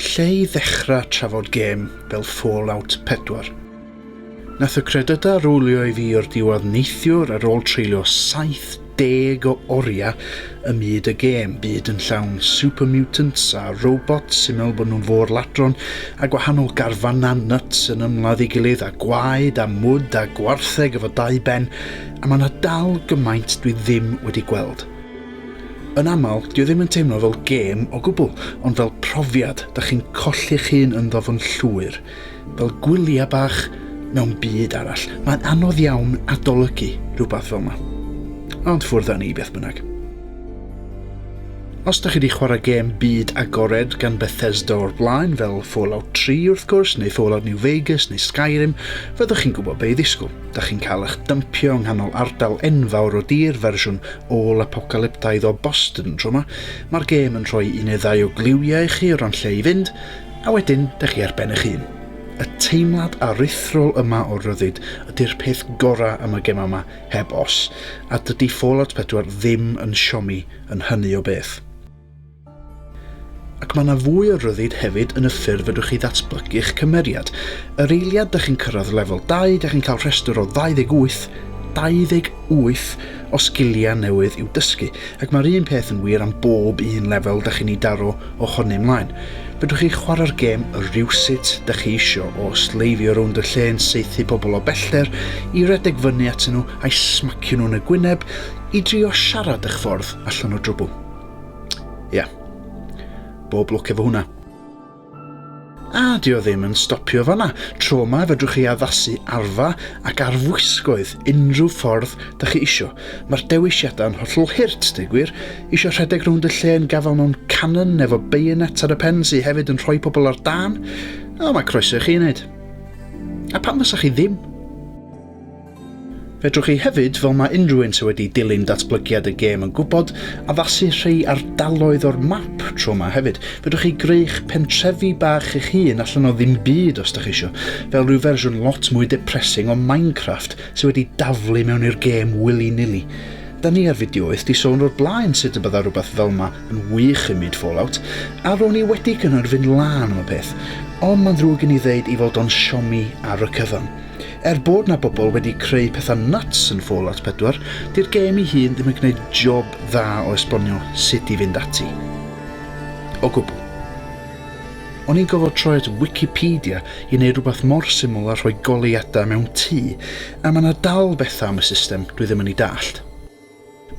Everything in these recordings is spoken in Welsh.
Lle i ddechrau trafod gêm fel Fallout 4? Nath y credydau rowlio i fi o'r diwedd neithiwr ar ôl treulio 70 deg o oriau ym myd y gêm, byd yn llawn super mutants a robots sy'n meddwl bod nhw'n fôr ladron a gwahanol garfanau nuts yn ymladd ei gilydd a gwaed a mwd a gwartheg efo dau ben a mae yna dal gymaint dwi ddim wedi gweld. Yn aml, dio ddim yn teimlo fel gêm o gwbl, ond fel profiad, da chi'n colli'ch hun ynddo fo'n llwyr. fel gwyliau bach mewn byd arall. Mae'n anodd iawn adolygu rhywbeth fel yma. Ond ffwrdd â ni beth bynnag. Os da chi wedi chwarae gêm byd agored gan Bethesda o'r blaen, fel Fallout 3 wrth gwrs, neu Fallout New Vegas, neu Skyrim, fyddwch chi'n gwybod be i ddisgwyl. Da chi'n cael eich dympio yng nghanol ardal enfawr o dir fersiwn ôl-apocalyptaidd o Boston tro yma. Mae'r gêm yn rhoi un neu ddau o gliwiau i chi o ran lle i fynd, A wedyn, dych chi ar ben eich hun. Y teimlad aruthrol yma o ryddid ydy'r peth gorau am y gemau yma, heb os, a dydy Fallout 4 ddim yn siomi yn hynny o beth. Ac mae yna fwy o ryddid hefyd yn y ffyrdd fedrwch chi ddatblygu'ch cymeriad. Yr eiliad dych chi'n cyrraedd lefel 20 chi'n cael rhestr o 28, 28! o sgiliau newydd i'w dysgu, ac mae'r un peth yn wir am bob un lefel da chi'n ei daro o honni mlaen. Fedrwch chi chwarae'r gêm rywsut da chi isio, o sleifio rownd y lle yn saethu pobl o bellter, i redeg fyny atyn nhw a'i smacio nhw'n y gwyneb, i drio siarad eich ffordd allan o drwbl. Ia. Bob lwc efo hwnna. A dio ddim yn stopio fanna, tro ma fedrwch chi addasu arfa ac arfwisgoedd unrhyw ffordd da chi isio. Mae'r dewisiadau yn hollol hurt, deu gwir. Isio rhedeg rownd y lle yn gafael mewn canon efo bayonet ar y pen sy hefyd yn rhoi pobl ar dân? O, mae croeso i chi wneud. A pam fysa chi ddim? Fedrwch chi hefyd, fel mae unrhyw un sydd wedi dilyn datblygiad y gêm yn gwybod, addasu rhei ardaloedd o'r map tro yma hefyd. Fedrwch chi greu'ch pentrefi bach eich hun allan o ddim byd os dach chi isio, fel rhyw fersiwn lot mwy depressing o Minecraft sydd wedi daflu mewn i'r gêm willy-nilly. Da ni ar fideoaeth di sôn o'r blaen sut y bydda rhywbeth fel ma yn wych yn myd Fallout, a ro'n i wedi cynnau'r fynd lân am y peth, ond mae'n ddrwg gen i ddeud i fod o'n siomi ar y cyfan. Er bod 'na bobl wedi creu pethau nuts yn Fallout 4, 'di'r gêm i hun ddim yn gwneud job dda o esbonio sut i fynd ati. O gwbl. O'n i'n gofod troi at Wikipedia i neud rhywbeth mor syml a rhoi goleuadau mewn tŷ, a ma' 'na dal bethau am y system dwi ddim yn 'i dallt.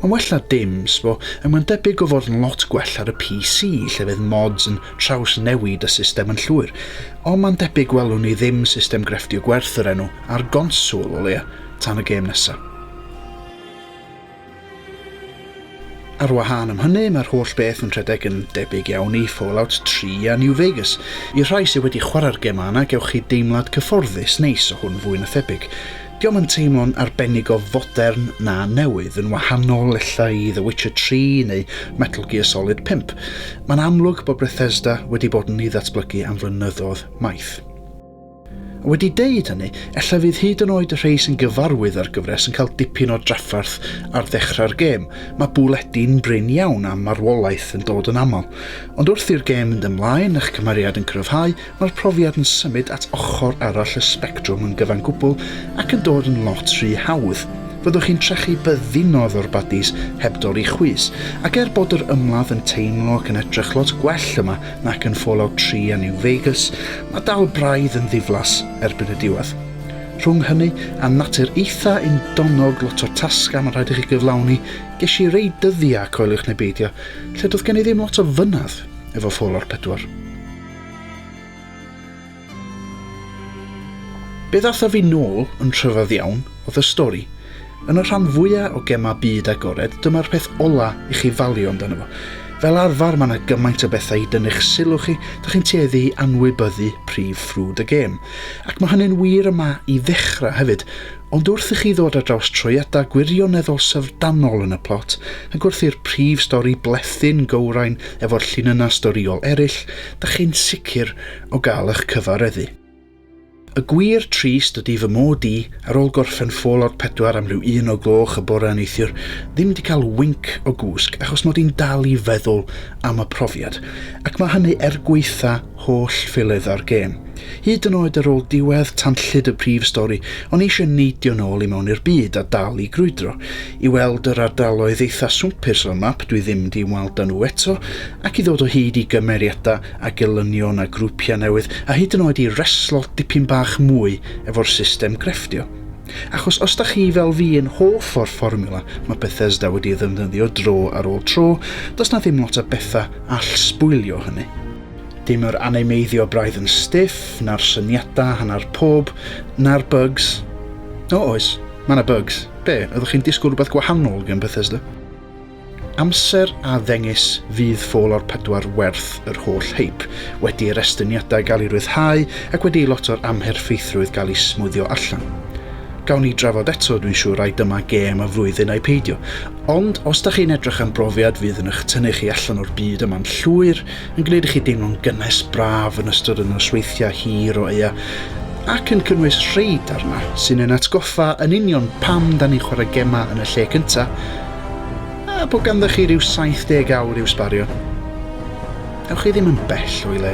Mae'n well na dim, sbo, ac mae'n debyg o fod yn lot gwell ar y PC lle fydd mods yn trawsnewid y system yn llwyr. Ond mae'n debyg welwn ni ddim system grefftio gwerth yr enw ar gonswl o leia, tan y gêm nesa. Ar wahân am hynny, mae'r holl beth yn rhedeg yn debyg iawn i Fallout 3 a New Vegas. I'r rhai sydd wedi chwarae'r gemau yna, gewch chi deimlad cyfforddus neis o hwn fwy na thebyg. Dio'm yn teimlo'n arbennig o fodern na newydd, yn wahanol ella i The Witcher 3 neu Metal Gear Solid 5. Mae'n amlwg bod Bethesda wedi bod yn ei ddatblygu am flynyddoedd maith. A wedi deud hynny, ella fydd hyd yn oed y rhei sy'n gyfarwydd â'r gyfres yn cael dipyn o drafferth ar ddechrau'r gêm, mae bwledi'n brin iawn a marwolaeth yn dod yn aml. Ond wrth i'r gêm mynd ymlaen, eich cymeriad yn cryfhau, Mae'r profiad yn symud at ochr arall y sbectrwm yn gyfan gwbl ac yn dod yn lot rhy hawdd. Fyddwch chi'n trechu byddinodd o'r badis heb dorri chwys, ac er bod yr ymladd yn teimlo ac yn edrych lot gwell yma nac yn Fallout 3 a New Vegas, mae dal braidd yn ddiflas erbyn y diwedd. Rhwng hynny a natur eitha undonnog, lot o tasgau mae'n rhaid i chi gyflawni, ges i rei dyddiau, coeliwch neu beidio, lle doedd gen i ddim lot o fynedd efo Fallout 4. Be ddatha fi nôl yn rhyfedd iawn oedd y stori. Yn y rhan fwya o gemau byd agored dyma'r peth ola i chi falio amdano fo. Fel arfer mae yna gymaint o bethau i dynnu'ch sylw chi, dych chi'n tueddu i anwybyddu prif ffrwd y gêm. Ac mae hynny'n wir yma i ddechrau hefyd, ond wrth i chi ddod ar draws troiadau gwirioneddol syfrdanol yn y plot, ac wrth i'r prif stori blethu'n gywrain, Efo'r llinynnau storïol eraill, da chi'n sicr o gael eich cyfareddu. Y gwir trist ydy fy mod i, ar ôl gorffen Fallout 4 am ryw un o gloch y bore neithiwr, ddim 'di cael winc o gwsg achos mod i'n dal i feddwl am y profiad, ac mae hynny er gwaetha holl ffeiledda'r gêm. Hyd yn oed ar ôl diwedd tanllyd y prif stori, o'n i eisiau neidio nôl i mewn i'r byd a dal i grwydro. I weld yr ardaloedd eitha swmpus o'r map dwi ddim di weld a nhw eto, ac i ddod o hyd i gymeriadau a gelynion a grwpiau newydd, a hyd yn oed i reslo dipyn bach mwy efo'r system grefftio. Achos os da chi fel fi yn hoff o'r fformiwla mae Bethesda wedi ei ddefnyddio dro ar ôl tro, does na ddim lot o bethau all sbwylio hynny. Dim yr animeiddio braidd yn stiff, na'r syniadau hanner pob, na'r bugs. O, oes. Mae yna bugs. Be, oeddech chi'n disgwyl rhywbeth gwahanol gan Bethesda? Amser a ddengys fydd Fallout 4 werth yr holl hyp, wedi i'r estyniadau gael eu rhyddhau ac wedi i lot o'r amherffeithrwydd gael ei smwddio allan. Gawn ni drafod eto, dwi'n siŵr, ai dyma gêm y flwyddyn ai peidio. Ond os da chi'n edrych am brofiad fydd yn eich tynnu chi allan o'r byd yma'n llwyr, yn gwneud i chi deimlo'n gynnes braf yn ystod y nosweithiau hir o aea ac yn cynnwys rhai darna sy'n ein atgoffa yn union pam da ni'n chwarae gemau yn y lle cynta a bod ganddo chi rhyw 70 awr i'w sbario. Ewch chi ddim yn bell o'i le.